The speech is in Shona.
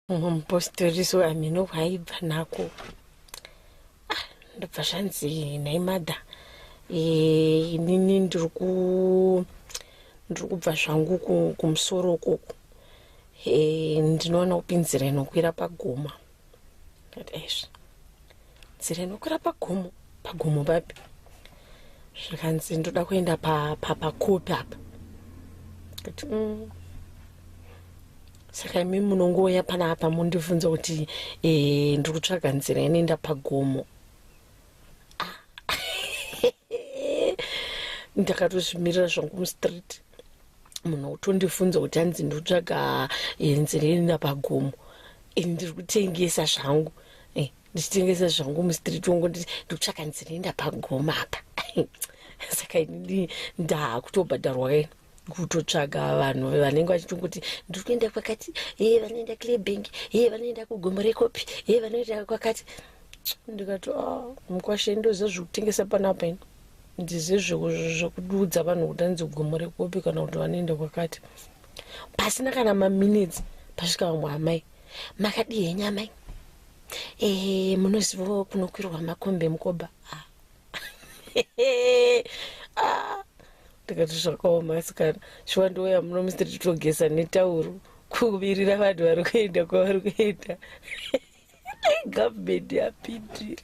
mumwe mupostoriso ameno hwaibva nako ah, ndobva zvanzi nhai madha eh, inini ndiri kubva zvangu kumusoro ukoko eh, ndinoona kupinzira inokwira pagoma kati aizvi nzira inokwira pagomo pagomo papi zvikanzi ndoda kuenda papakopi pa, apa kuti mm. saka imi munongouya pana apa mundibvunza kuti e, ndiri kutsvaga nzira inoenda pagomo ah. ndakatozvimirira zvangu mustreet munhu utondifunza kuti hanzi ndotsvaga eh, nzira inoenda pagomo ini ndiri kutengesa zvangu ndichitengesa zvangu mustreet wongo ndikutsvaka nzinoenda pagoma apa saka ini ndakutobhadharwa keni kutotsvaga vanhu vanenge vachitongoti ndiri kuenda kwakati ee vanoenda clebank ee vanoenda kugomo rekopi ee vanoenda kwakati ndikati ah, mukwashe ndoziva zviri kutengesa panapa ini ndizive zvekuudza vanhu kuti anzi gomo rekopi kana kuti vanoenda kwakati pasina kana maminutes pasvika vamwe amai makadii henyu amai ehe munozivawo kunokwirwa makombe mukoba ah. ah. ndikati zvakaoma asikana shuwa ndiwoya muno mr titogesa netauro kuvirira vanhu vari kuenda kwavari kuenda government yapindira